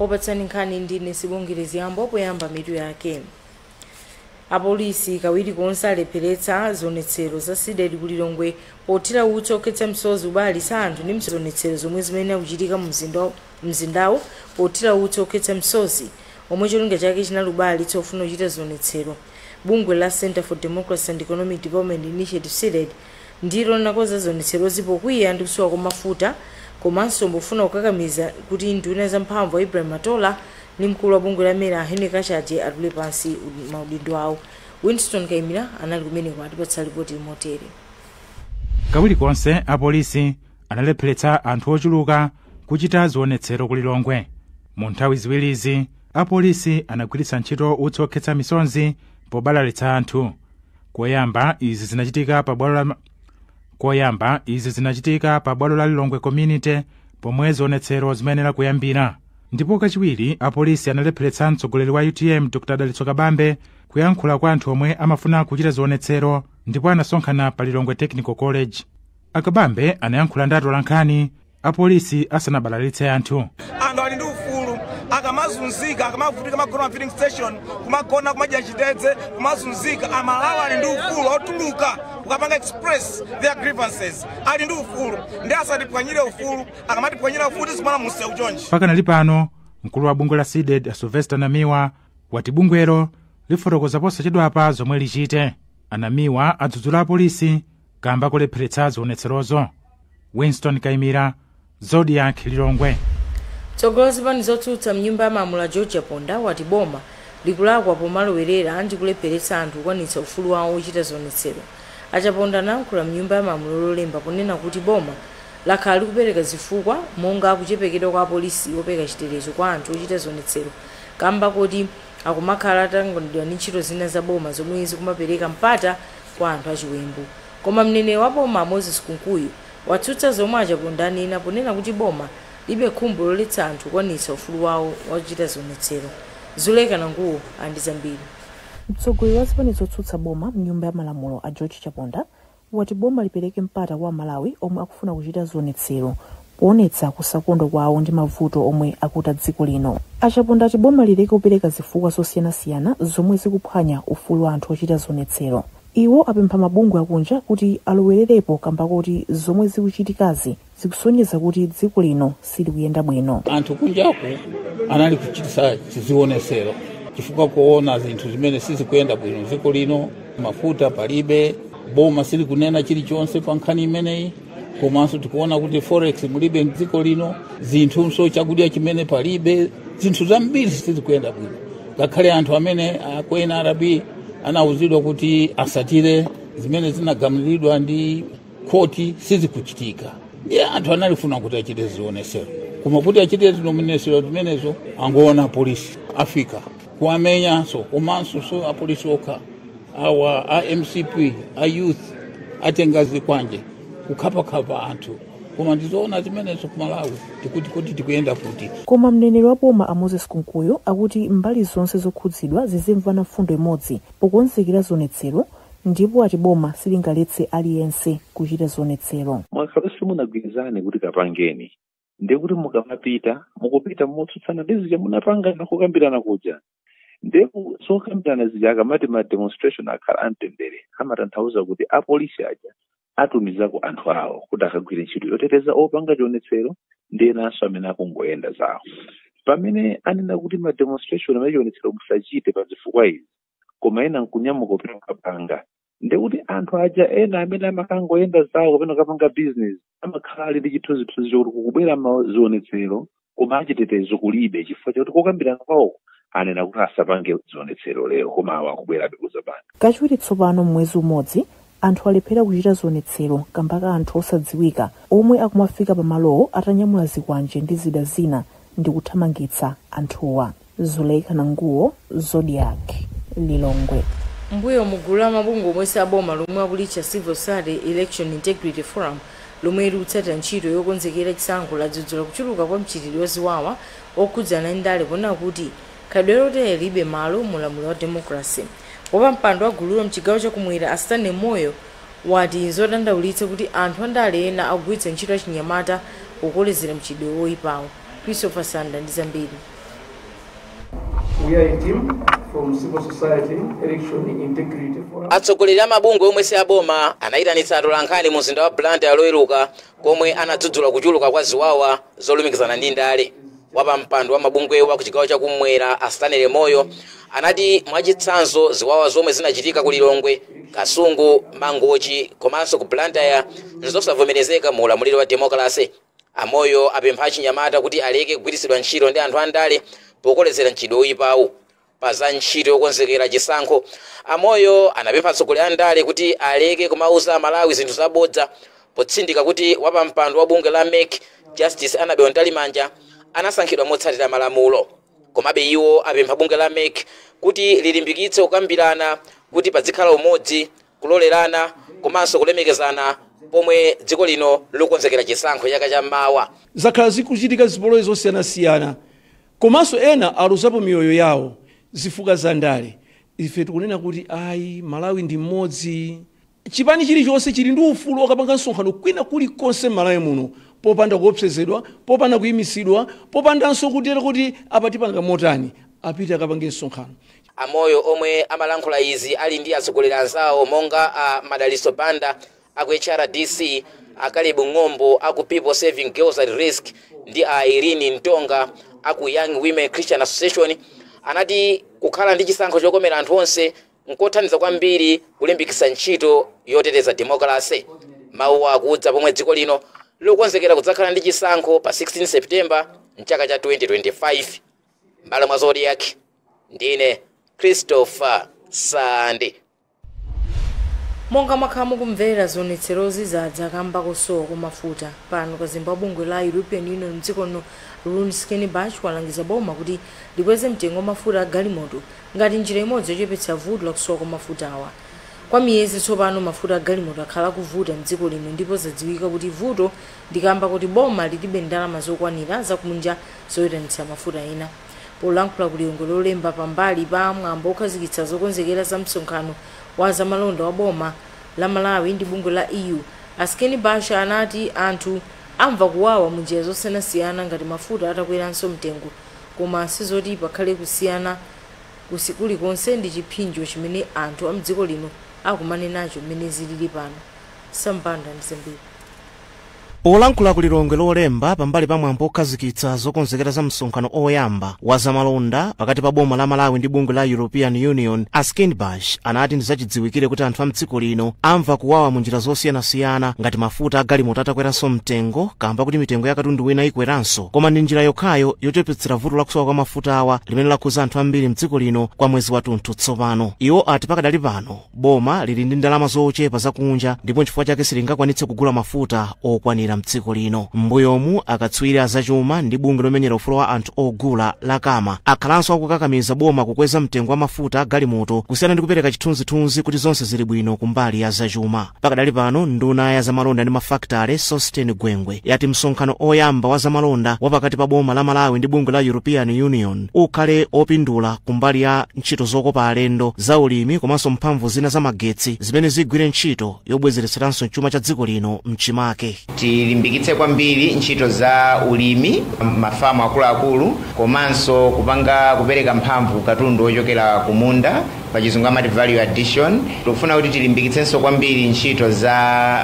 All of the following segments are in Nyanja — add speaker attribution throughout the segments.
Speaker 1: opatsani nkhani ndine sibongerezi yambo poyamba mitu yake apolisi kawiri konse alepheretsa zionetsero za cdedi ku lilongwe pothira utsi okhetsa misozi abalalitsa anthu ndi zionetsero zomwe zimene akuchitika mu mzinda wa- mzindawu pothira utsi okhetsa msozi omwe cholinga chake chinali kubalalitsa ofuna kuchita zionetsero. Bungwe la Centre for Democracy and Economic Development Initiative Cdedi ndilo linakonza zionetserozi pokwiya ndi kusowa kwa mafuta komanso pofuna kukakamiza kuti nduna ya zamphamvu a Ibrahim Matola ndi mkulu wa bungwe la mera a Henry Kachaje atule pansi maudindo awo. Winston Kaimira anali kumeneko atipatsa lipoti motere.
Speaker 2: kawiri konse apolisi analepheretsa anthu ochuluka kuchita zionetsero ku lilongwe mu nthawi ziwirizi apolisi anagwiritsa ntchito utsi okhetsa misonzi pobalalitsa anthu koyamba izi zinachitika pa bwalo la lilongwe community pomwe zionetsero zimayenera kuyambira ndipo kachiwiri apolisi analepheretsa mtsogoleri wa utm dr dalitso kabambe kuyankhula kwa anthu omwe amafuna kuchita zionetsero ndipo anasonkhana pa lilongwe technical college akabambe anayankhula ndi atolankhani apolisi asanabalalitse anthu anthu ali ndi
Speaker 3: ufulu akamazunzika akamavutika kumagona ma filling station kumagona kumadya chitedze kumazunzika amalawi ali ndi ufulu otuluka kukapanga express their grievances ali ndi ufulu nde asatiphwanyire ufulu akamatiphwanyira ufulu tizikumana mumsewu chonchi pakanali
Speaker 2: pano mkulu wa bungwe la cdedi a sylvester namiwa wati bungwelo lifotokoza posachedwapa zomwe lichite anamiwa adzudzula apolisi kamba kolepheretsa zionetserozo winston kaimira zodiak lilongwe mtsogoleri
Speaker 1: wa zipani zotsutsa mnyumba ya malamulo a george chaponda wati boma likulakwa pomalowerera ndi kulepheretsa anthu kukwanitsa ufulu wawo ochita zionetsero achaponda anayankhula mnyumba ya malamulo lolemba ponena kuti boma lakhala likupereka zifukwa monga kuchepekeredwa kwa apolisi opereka chitetezo kwa anthu ochita zionetsero kamba koti akumakhala atatanganidwa ndi ntchito zina za boma zomwe zikumapereka mpata kwa anthu achiwembu. Koma mneneri wa boma a Moses Kunkuyu watsutsa zomwe a Chaponda anena ponena kuti boma lilibe khumbo loletsa anthu kukwaniritsa ufulu wawo wakuchita zionetsero. Zuleka Nanguwo ali ndi zambiri.
Speaker 4: Mtsogoleri wa zipani zotsutsa boma mnyumba ya malamulo a George Chaponda wati boma lipereke mpata kwa a Malawi omwe akufuna kuchita zionetsero poonetsa kusakondwa kwawo ndi mavuto omwe akuta dziko lino. A Chaponda ati boma lileke kupereka zifukwa zosiyanasiyana zomwe zikuphwanya ufulu wa anthu ochita zionetsero. Iwo apempha mabungwe akunja kuti alowererepo kamba koti zomwe zikuchitikazi zikusonyeza kuti dziko lino silikuyenda bwino. anthu
Speaker 5: kunjaku anali kuchitisa zionesero chifukwa kuona zinthu zimene sizikuyenda bwino dziko lino mafuta palibe boma silikunena chilichonse pa nkhani imeneyi komanso tikuona kuti forex mulibe mdziko lino zinthunso chakudya chimene palibe zinthu zambiri sizikuyenda bwino ngakhale anthu amene a ku nrb anawuzidwa kuti asatire zimene zinagamulidwa ndi khoti sizikuchitika ndiye anthu analifuna kuti achite zionesero koma kuti achite zionesero zimenezo angoona polisi afika kuwamenyanso komanso si apolisi okha awa a mcp a youth atenga zikwanje kukhapakhapa anthu koma ndizoona zimenezo ku malawi tikuti kuti tikuyenda kuti koma mneneri wa
Speaker 4: boma a moses kunkuyu akuti mbali zonse zokhudzidwa zizimvana mfundo imodzi pokonzekera zionetsero ndipo ati boma silingaletse aliyense kuchita zionetsero mwakhala simunagwirizane
Speaker 6: kuti kapangeni ndiye kuti mukamapita mukupita motsutsana ndi zija munapangana kukambirana kuja ndiye ku- zokambirana zija akamati ma demonstration akhala amtendere amatanthauza kuti apolisi aja atumizako anthu awo kuti akagwire ntchito yoteteza opanga chionetsero ndi enanso amene akungoyenda zawo pamene anena kuti ma demonstration amachionetsero musachite pa zifukwa izi koma ena nkunyamuka kupita kukapanga ndekuti anthu aja ena amene amakangoyenda zawo kapena kapanga bizinesi amakhala ali ndi chithunzithunzi chokuti kukubwera mazionetsero koma achitetezo kulibe chifukwa chakuti kokambirana kwawo anena kuti asapange zionetsero lero koma awa akubwerabe kuzapanga kachiwiri tsopano
Speaker 4: m'mwezi umodzi anthu alephera kuchita zionetsero kamba ka anthu osadziwika omwe akumafika pamalowo atanyamula zikwanje ndi zida zina ndi kuthamangitsa anthuwa zuleika nanguwo zodiak lilongwe
Speaker 1: mmbuyomu gulu la mabungwe omwe si aboma lomwe akulitcha civil society election integrity forum lomwe likutsatira ntchito yokonzekera chisankho ladzudzula kuchuluka kwa mchitidwe waziwawa okhudzana ndi ndale ponena kuti khalidwe lotere lilibe malo mu ulamuliro wa democracy wapampando wa gululo mchigawo chakumwera a stanley moyo wati nzodandaulitsa kuti anthu andale ena akugwiritsa ntchito achinyamata pokolezera mchitidwe woyipawo Christopher Sande ndi
Speaker 7: zambiri. We are a team from civil society, election integrity forum. atsogoleri a mabungwe omwe
Speaker 8: si aboma anayitanitsa atolankhani mu mzinda wa blantyre loweruka komwe anadzudzula kuchuluka kwa ziwawa zolumikizana ndi ndale wapampando wa mabungwewa kuchigawo chakumwera a stanley moyo anati mwachitsanzo ziwawa zomwe zinachitika ku lilongwe kasungu mangochi komanso ku blantyre nzosavomerezeka mu ulamuliro wa demokalase A Moyo apempha achinyamata kuti aleke kugwiritsidwa ntchito ndi anthu andale pokolezera mchitidwe oyipawu. Pa za ntchito yokonzekera chisankho, a Moyo anapempha atsogoleri a ndale kuti aleke kumawuza a Malawi zinthu za bodza potsindika kuti wapampando wa bungwe la MEC Justice Annabel Mtalimanja anasankhidwa motsatira malamulo. Komabe iwo apempha bungwe la MEC kuti lilimbikitse kukambirana kuti padzikhala umodzi kulolerana komanso kulemekezana pomwe dziko lino likukonzekera chisankho chaka cha mawa. Zakhala zikuchitika
Speaker 9: zipolowe zosiyanasiyana komanso ena aluzapo miyoyo yawo zifukwa za ndale. Ife tikunena kuti ayi Malawi ndi mmodzi. Chipani chilichonse chili ndi ufulu okapanga msonkhano kwina kulikonse m'Malawi muno popanda kuopsezedwa, popanda kuimitsidwa, popandanso kutero kuti apa tipanga motani. Apite akapange msonkhano. A Moyo
Speaker 8: omwe amalankhula izi ali ndi atsogoleri anzawo monga a Madalitso Banda a ku HRDC, a Caleb Ng'ombo a ku People Serving Girls at Risk ndi a Irene Ntonga a ku Young Women Christian Association anati kukhala ndi chisankho chokomera anthu onse nkothandiza kwambiri kulimbikitsa ntchito yoteteza demokalasi. Mawuwa akudza pomwe dziko lino likukonzekera kudzakhala ndi chisankho pa 16 September mchaka cha 2025. Mbalamwa Zodiak. Ndine Christopher
Speaker 1: Sande. Monga mwakhala mukumvera zionetserozi zadza kamba kosowa kwa mafuta pano kazembe wa bungwe la European Union mdziko lino Rune Skinnebach walangiza boma kuti likweze mtengo wa mafuta a galimoto ngati njira imodzi yochepetsa vuto la kusowa kwa mafutawa kwa miyezi tsopano mafuta a galimoto akhala akuvuta mdziko lino ndipo zadziwika kuti vuto ndi kamba kuti boma lilibe ndalama zokwanira zakunja zoyitanitsa mafuta ena Polankhula ku Lilongwe Lolemba pambali pa mwambo okhazikitsa zokonzekera za msonkhano wa zamalonda wa boma la Malawi ndi bungwe la EU, a Skinnebach anati anthu amva kuwawa mu njira zosiyanasiyana ngati mafuta atakweranso mtengo koma sizoti pakhale kusiyana kulikonse ndi chiphinjo chimene anthu a mdziko lino akumana nacho mmene zilili pano. Sam Banda ndi zambiri.
Speaker 10: polankhula ku lilongwe lolemba pambali pa mwambo okhazikitsa zokonzekera za msonkhano oyamba wa zamalonda pakati pa boma la malawi ndi bungwe la european union a skinnebach anati ndi zachidziwikire kuti anthu a mdziko lino amva kuwawa mu njira zosiyanasiyana ngati mafuta a galimoto atakweranso mtengo kamba kuti mitengo ya katundu wina ikweranso koma ndi njira yokhayo yochepetsera vuto la kusowa kwa mafutawa limene lakhuza anthu ambiri mdziko lino kwa mwezi wathunthu tsopano iwo ati pakadali pano boma lili ndi ndalama zochepa zakunja ndipo nchifukwa chake silingakwanitse kugula mafuta okwanira mdziko lino m'mbuyomu akatswiri azachuma ndi bungwe lomenyera ufulu wa anthu ogula la cama akhalanso akukakamiza boma kukweza mtengo wa mafuta agalimoto kusiyana ndi kupereka chithunzithunzi kuti zonse zili bwino kumbali ya zachuma pakadali pano nduna ya zamalonda ndi mafakitale sosten gwengwe yati msonkhano oyamba wa zamalonda wa pakati pa boma la malawi ndi bungwe la european union ukhale opindula kumbali ya ntchito zokopa alendo, zaulimi komanso mphamvu zina za magetsi zimene zigwire ntchito yobwezeretseranso chuma cha dziko lino m'chimake. Tilimbikitse
Speaker 11: kwambiri ntchito za ulimi, mafamu akuluakulu komanso kupanga kupereka mphamvu ku katundu wochokera kumunda, pachizungu amati value addition, Tikufuna kuti tilimbikitsenso kwambiri ntchito za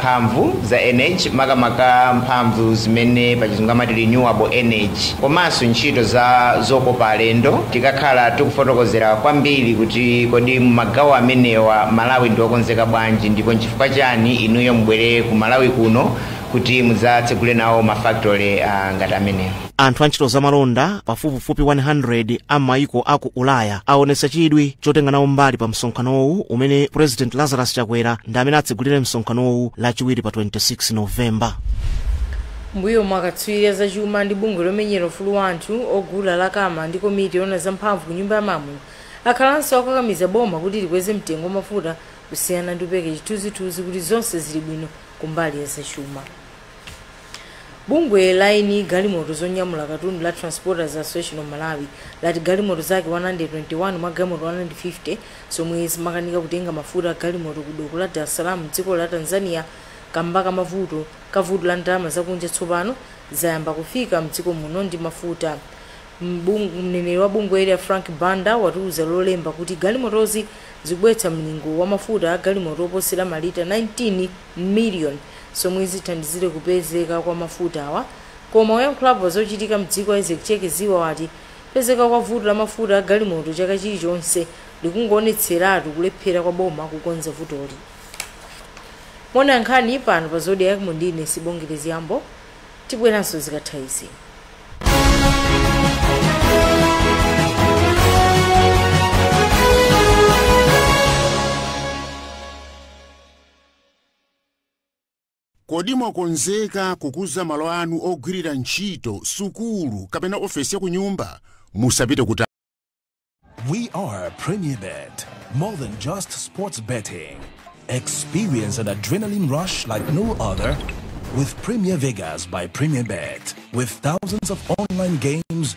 Speaker 11: mphamvu za energy makamaka mphamvu zimene pachizungu amati renewable energy komanso ntchito za zokopa alendo tikakhala tikufotokozera kwambiri kuti kodi mumagawo amenewa Malawi ndi wokonzeka bwanji ndipo nchifukwa chani inuyo mubwere ku Malawi kuno kuti mudzatsegule nawo ma factory ngati amenewa. anthu a
Speaker 10: ntchito zamalonda pafupifupi 100 a maiko a ku ulaya aonetsa chidwi chotenga nawo mbali pa msonkhanowu umene president lazarus chakwera ndi amene atsegulire msonkhanowu lachiwiri pa 26 novemba
Speaker 1: m'mbuyomu akatswiri azachuma ndi bungwe lomenyera ufulu wa anthu ogula la cama ndi komiti yoona zamphamvu ku nyumba ya malamulo akhalanso akukakamiza boma kuti likweze mtengo wa mafuta kusiyana ndi kupereka chithunzithunzi kuti zonse zili bwino kumbali ya zachuma Bungwe la eni galimoto zonyamula katundu la Transporters Association of Malawi lati galimoto zake 121 mwa galimoto 150 zomwe zimakanika kutenga mafuta a galimoto ku doko la Dar es Salaam m'dziko la Tanzania kamba ka mavuto ka vuto la ndalama zakunja tsopano zayamba kufika m'dziko muno ndi mafuta. M'bung- Mneneri wa bungweli a Frank Banda watiuza Lolemba kuti galimotozi zikubweretsa mlingo wa mafuta a galimoto oposera malita 19 million zomwe zithandizire kupezeka kwa mafutawa koma oyankhulapo pa zochitika mdziko a Isaac Cheke Ziba wati kupezeka kwa vuto la mafuta a galimoto chaka chilichonse likungoonetseratu kulephera kwa boma kukonza vutoli. Mukuonera nkhani pano pa Zodiak mu ndine Sibongile Zgambo tibweranso zikatha izi.
Speaker 12: Kodi mwakonzeka kukuza malo anu ogwirira ntchito, sukulu, kapena ofesi ya kunyumba? Musapite kutali. We
Speaker 13: are Premier Bet, more than just sports betting. Experience an adrenaline rush like no other with Premier Vegas by Premier Bet. With thousands of online games,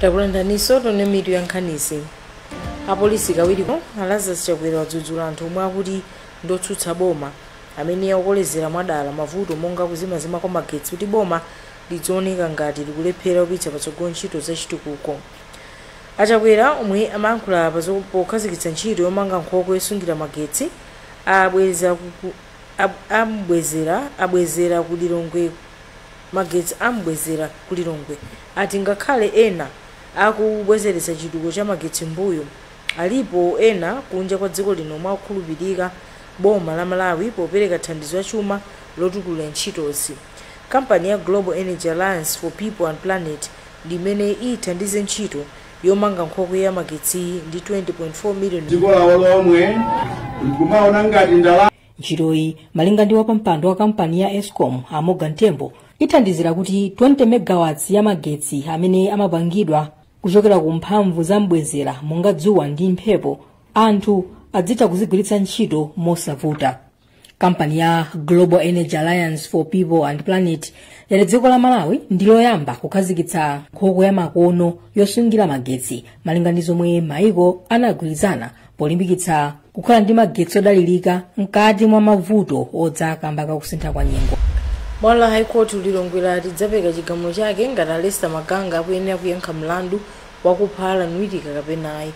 Speaker 1: Takulandiraninso tione mitu ya nkhanizi. Apolisi kawiriko a Lazarus Chakwera wadzudzula anthu omwe akuti ndotsutsa boma amene akukolezera mwadala mavuto monga kuzimazima kwa magetsi kuti boma lidzioneka ngati likulephera kupititsa patsogolo ntchito za chitukuko. A Chakwera omwe amayankhula apa zo pokhazikitsa ntchito yomanga nkhokwe yosungira magetsi abweza ku, ku, ab, ambwezera, abwezera ku Lilongwe magetsi a m'bwezera ku Lilongwe ati ngakhale ena akubwezeretsa chitukuko cha magetsi mbuyo, alipo ena kunja kwa dziko lino omwe akukhulupilika boma la Malawi popereka thandizo la chuma lotukulira ntchitozi. Kampani ya Global Energy Alliance for People and Planet ndi imene ithandize ntchito yomanga nkhokwe ya magetsiyi ndi 20.4 million dziko lawo lomwe
Speaker 14: nkumaona ngati ndalama.
Speaker 15: ntchitoyi malinga ndi wapampando wa kampani ya escom a morgan tembo ithandizira kuti 20 megawatts ya magetsi amene amapangidwa kuchokera ku mphamvu za mbwezera monga dzuwa ndi mphepo anthu adzitha kuzigwiritsa ntchito mosavuta kampani ya global energy alliance for people and planet yati dziko la malawi ndi loyamba kukhazikitsa nkhokwe ya makono yosungira magetsi malinga ndi zomwe maiko anagwirizana polimbikitsa kukhala ndi magetsi odalirika mkati mwa mavuto odza kamba ka kusintha kwa nyengo bwalo la
Speaker 1: high court lilongwe lati lidzapereka chigamulo chake ngati a lester maganga akuyenera kuyankha mlandu wakupha allan witika kapena ayi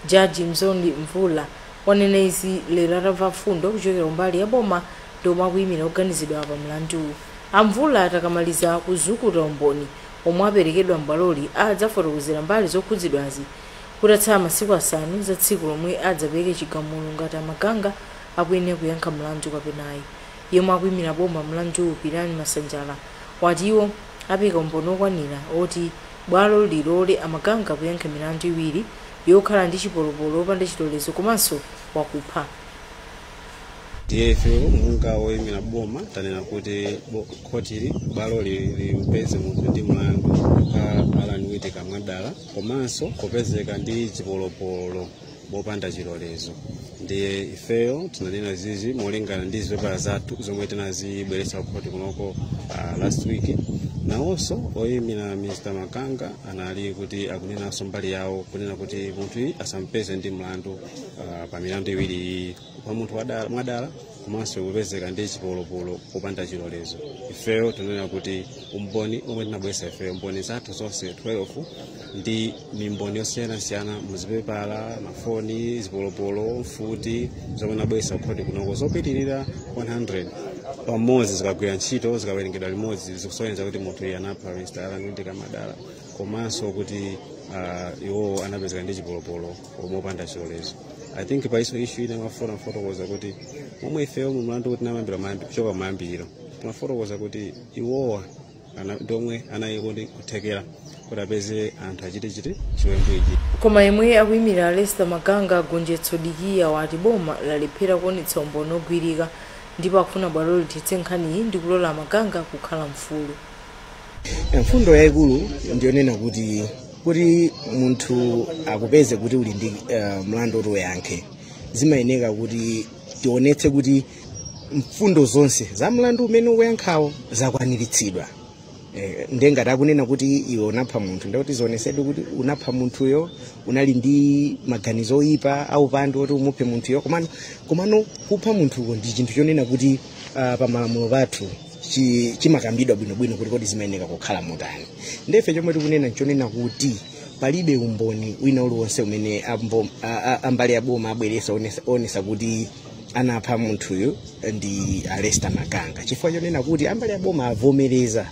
Speaker 1: jaji mzondi mvula wanena izi lero atamva mfundo kuchokera kumbali ya boma ndi omwe akuyimira oganizidwa pa mlanduwu a mvula akamaliza kuzukuta umboni omwe aperekedwa mbwaloli adzafotokozera mbali zokhudzidwazi kutatsala masiku asanu za tsiku lomwe adzapereke chigamulo ngati a Maganga akuyenera kuyankha mlandu kapena ayi. Yemwe akuimira boma mlanduwu Pirani Masanjala wati iwo apereka umboni okwanira oti bwalo lilole a Maganga kuyankha milandu iwiri yokhala ndi chipolopolo opanda chilolezo komanso
Speaker 16: wakupha. Ndiye ife monga woimira boma tanena kuti bo- khotili bwaloli limpeze munthu ndi mlandu a Allan Witika mwadala komanso kupezeka ndi chipolopolo mopanda chilolezo ndiye ifeyo tinanena zizi molingana ndi zipepala zathu zomwe tinazibweretsa kukhoti kunoko uh, last week nawonso oyimira mr maganga anali kuti akunenanso mbali yawo kunena kuti munthuyi asampeze ndi mlandu uh, pa milandu iwiri iyi kupha munthu wadala- mwadala komanso kupezeka ndi chipolopolo popanda chilolezo ifeyo tinanena kuti umboni omwe tinabwesa ifeyo mboni zathu zonse 12 ndi mimboni yosiyanasiyana muzipepala mafoni zipolopolo mfuti zomwe tinabwesa kukhoti kunoko zopitirira 100 pamodzi zikagwira ntchito zikawerengedwa limodzi zikusonyeza kuti munthuyi anapha mr allan witika mwadala komanso kuti ah, iwowo anapezeka ndi chipolopolo omwe opanda chilolezo i think pa iyo issue ine ndimafuna kufotokoza kuti momwe ifeyo mu mlandu kuti namayambira mayambi- kuchoka mayambiriro timafotokoza kuti iwowa ana- ndi omwe anali ndi kuthekera kuti apeze anthu achite chiti chiwembu ichi koma yemwe
Speaker 1: akuyimira lester maganga gonjetso dikiya wati boma lalephera kuonetsa umboni ogwirika ndipo akufuna bwalo lithetse nkhaniyi ndi kulola maganga kukhala mfulu mfundo yayikulu ndiyonena
Speaker 10: kuti kuti munthu akupeze kuti uli ndi uh, mlandu woti uyankhe zimayeneka kuti tionetse kuti mfundo zonse za mlandu umene ukuyankhawo zakwaniritsidwa Eh, ndiye ngati akunena kuti iwe unapha munthu ndikuti zionetsedwe kuti unapha munthuyo unali ndi maganizo oyipa aupandu oti umuphe munthuyo komano kupha munthuko ndi chinthu chonena kuti uh, pamalamulo pathu chi- chimakambidwa bwinobwino kuti kodi zimayeneka kukhala motani ndefe chomwe tikunena nchonena kuti palibe umboni wina uliwonse umene ambo- a- a- ambali ya boma abweresa onesa- onesa kuti anapha munthuyu ndi a Lester Maganga chifukwa chonena kuti ambali ya boma avomereza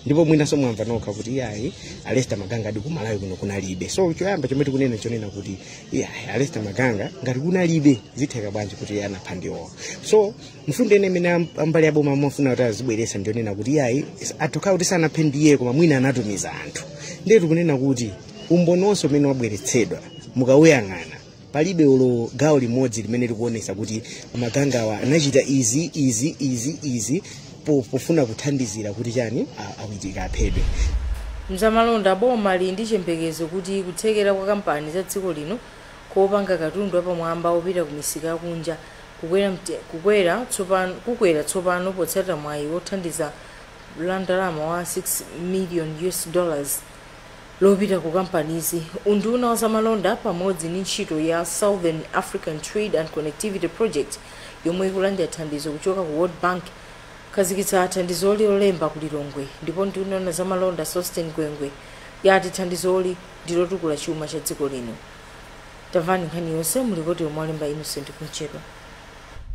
Speaker 10: ndipo mwinanso mwamva nokha kuti iyayi a Lester Maganga ali ku Malawi kuno kunalibe so choyamba chomwe tikunena chonena kuti iyayi a Lester Maganga ngati kunalibe zitheka bwanji kuti iye anapha ndiwowo so mfundo ina imene am- ambali aboma amafuna kuti azibweresa ndionena kuti iyayi atha kukhala kuti sanaphe ndiye koma mwina anatumiza anthu ndiye tikunena kuti umboni wonse umene wabweretsedwa mukawuyang'ana palibe olo gawo limodzi limene likuonesa kuti magangawa anachita izi izi izi izi po- pofuna kuthandizira kuti chani a- a Witika aphedwe mzamalonda
Speaker 1: boma lili ndi chiyembekezo kuti kuthekera kwa kampani za dziko lino kopanga katundu apamwamba opita ku misika yakunja Kukwera tsopano potsata mwayi wa thandizo la ndalama wa 6 million US dollars lopita ku kampanizi, unduna wa zamalonda pamodzi ndi ntchito ya Southern African Trade and Connectivity Project yomwe ikulandira thandizo kuchoka ku World Bank akhazikitsa thandizoli lolemba ku Lilongwe ndipo nduna yoona zamalonda Sosten Gwengwe yati thandizoli ndilotukula chuma cha dziko lino. Tamvani nkhani yonse mu lipoti lomwe walemba Innocent Kumchedwa.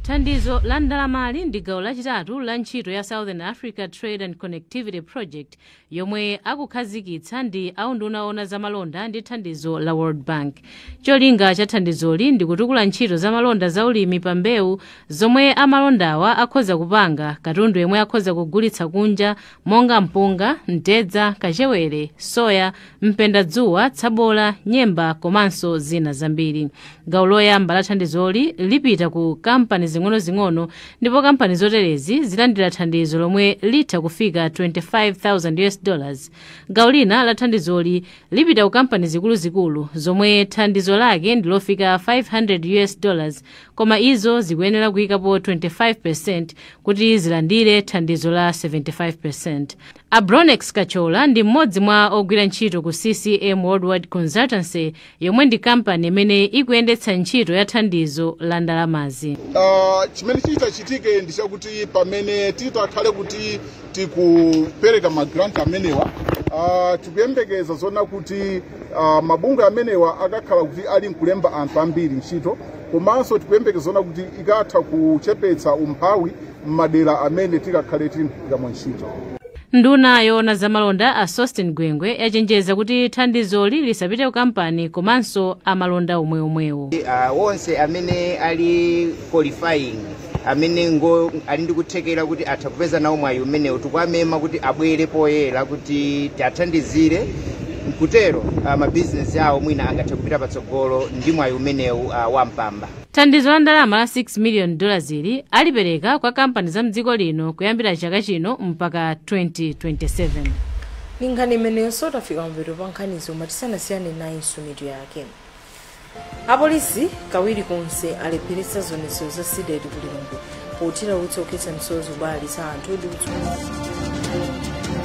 Speaker 17: Thandizo la ndalamali ndi gawo lachitatu la ntchito ya Southern Africa Trade and Connectivity Project yomwe akukhazikitsa ndi a unduna owona za malonda ndi thandizo la World Bank. Cholinga cha thandizoli ndi kutukula ntchito za malonda za ulimi pa mbewu zomwe amalondawa akhoza kupanga, katundu yemwe akhoza kugulitsa kunja, monga mpunga, mtedza, kachewere, soya, mpendadzuwa, tsabola, nyemba komanso zina zambiri. Gawo loyamba la thandizoli lipita ku kampani zing'onozing'ono ndipo kampani zoterezi zilandira thandizo lomwe litha kufika 25,000 US dollars. Gawo lina la thandizoli lipita ku kampani zikuluzikulu zomwe thandizo lake ndi lofika 500 US dollars koma izo zikuyenera kuyikapo 25% kuti zilandire thandizo la 75%. A Bronex Kachola ndi mmodzi mwa ogwira ntchito ku CCM Worldwide Consultancy yomwe ndi kampani imene ikuyendetsa ntchito ya thandizo la ndalamazi. Ah,
Speaker 14: chimene chitachitike ndi chakuti pamene titakhale kuti tikupereka magranti amenewa ah, tikuyembekeza zoona kuti ah, mabungwe amenewa akakhala kuti ali nkulemba anthu ambiri ntchito komanso tikuyembekeza zoona kuti ikatha kuchepetsa umphawi m'madera amene tikakhale tikamwa ntchito nduna
Speaker 17: yoona zamalonda a sosten gwengwe yachenjeza kuti thandizoli lisapite ku kampani komanso amalonda omweomwewo uh, onse
Speaker 11: amene ali qualifying amene ngo ali ndi kuthekera kuti atha kupeza nawo mwayi umenewu tikuwamema kuti abwere poyera kuti tiwathandizire kutero uh, mabizinesi awo mwina angathe kupita patsogolo ndi mwayi umenewu uh, wa mpamba thandizo la
Speaker 17: ndalama la 6 million dollars ili alipereka kwa kampani za mdziko lino kuyambira chaka chino mpaka 2027 ndi
Speaker 1: nkhani imeneyonso tafika mapeto pa nkhanizi koma tisanasiyane nayonso mitu yake apolisi kawiri konse alepheretsa zionetsero za cdedi ku lilongwe pothira utsi okhetsa misozi pobalalitsa anthu ndi kuchuluka